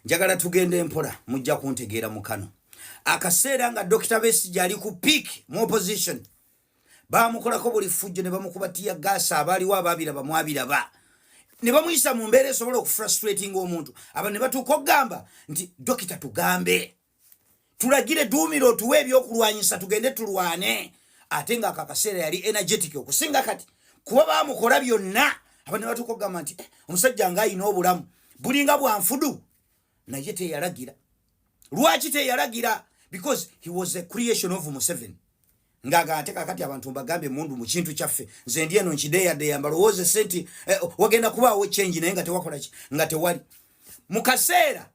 njagala tugenda empola mujja kuntegeera mu kano akaseera nga dokita besija ali ku peak mu opposition bamukolako buli fujjo ne bamukuba tiya gaasa abaaliwo abaabiraba mwabiraba ne bamuyisa mu mbeera esobola okufrustratinga omuntu aba ne batuuka okugamba nti dokita tugambe tulagire duumira otuwe ebyokulwanyisa tugende tulwane ate nga ako akaseera yali energetic okusinga kati kuba bamukola byonna abana batuka okugamba nti eh, omusajja nga ayina obulamu bulinga bwanfudu naye teyalagira lwaki teyalagira because he was a creation of museven ngagate kakati abantu mbagambe mundu mu kintu kyaffe nze ndi eno nkideyaddeya mbalowooze senti eh, wagenda kubaawo change naye nga tewakolaki nga tewali mu kaseera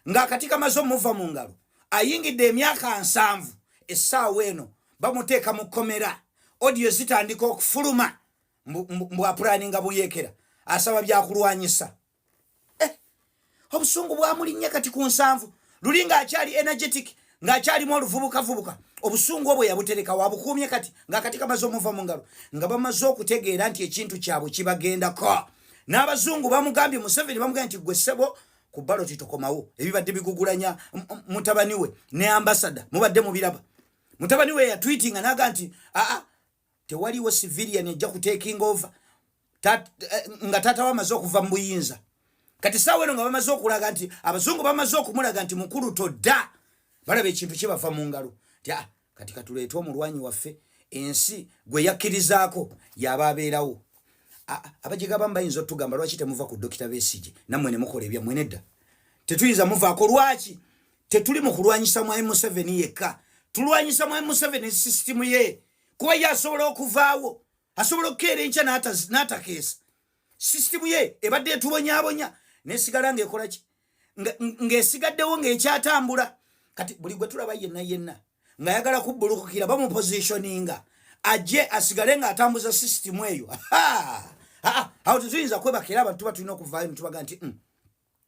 ng'akati kamaze omuva mu ngalo ayingidde emyaka nsanvu essaawa eno bamuteeka mu kkomera odiyo zitandika okufuluma mbwapulaninga buyekera asaba byakulwanyisa eh, obusungu bwamulinnya kati ku nsanvu luli ng'akyali energetic ng'akyalimu oluvubukavubuka obusungu obwe yabutereka wabukuumye kati ng'akati kamaze omuva mu ngalo nga bamaze okutegeera nti ekintu kyabwe kibagendako n'abazungu bamugambye museveni bamugambye nti gwe ssebo ku baloti tokomawo ebibadde bigugulanya mutabani we ne ambasada mubadde mubiraba mutabani we yatwitinga naga nti aa tewaliwo civilian ejja kutaking over Tat, eh, nga taata we amaze okuva mu buyinza kati saawa eno nga bamaze okulaga nti abazungu bamaze okumulaga nti mukulu todda balaba ekintu kibava mu ngalo kati katuleete omulwanyi waffe ensi gwe yakkirizaako yaba abeerawo abajegabamu bayinza otugamba lwaki temuva ku dokita besigi nammwe ne mukola ebyammwe nedda tetuyinza muvaako lwaki tetuli mu kulwanyisa mwami museveni yekka tulwanyisa mwami museveni sisitimu ye kuba ye asobola okuvaawo asobola okukeera enkya n'atakeesa sisitimu ye ebadde etubonyabonya nesigala ngaekolaki ng'esigaddewo ng'ekyatambula kati buli gwe tulaba yenna yenna ng'ayagala kubbulukukira bamupositioninga ajje asigale ng'atambuza sisitimu eyo awo tetuyinza kwebakera abantu tuba tulina okuvaayo netubaga nti mm.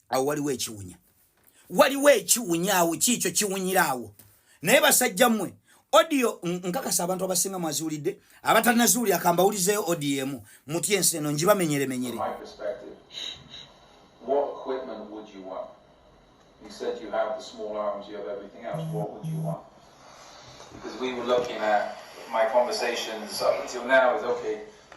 awo waliwo ekiwunya waliwo ekiwunya awo kiikyo kiwunyira awo naye basajja mmwe odio nkakasa abantu abasinga mwaziwulidde abatanaziwuli akambawulizeyo odio emu muty ensi eno njibamenyeremenyere You said you have the small arms, you have everything else. What would you want? Because we were looking at my conversations up until now is okay,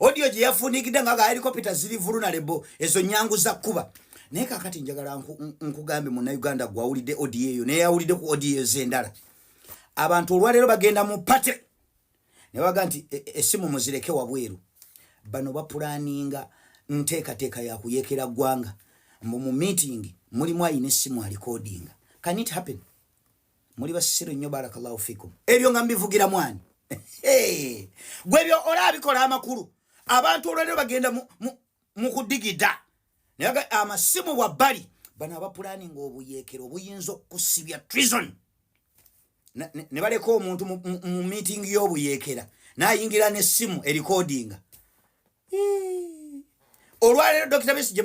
odiyo gye yafuunigidde nga gahelikopita ziri vulunalebo ezo nyangu za kkuba naye kakati njagala nkugambe munauganda gwawulidde odiyo eyo naye yawulidde ku odiyo ezo endala abantu olwaleero bagenda mu pate naye waga nti e, e, esimu muzireke wabweru bano bapulaninga nteekateeka ya kuyekera ggwanga mbu mu meeting mulimu ayina essimu alikodinga can it happen muli basiru nnyo barakallahu fikum ebyo nga mbivugira mwani gwe ebyo olabikola amakulu abantu olwalero bagenda mukudigida naye amasimu wabbali bano abapulani nga obuyekero obuyinza okusibya trison ne baleka omuntu mu meeting y'obuyekera nayingira n'essimu erikodinga olwalero dokita besi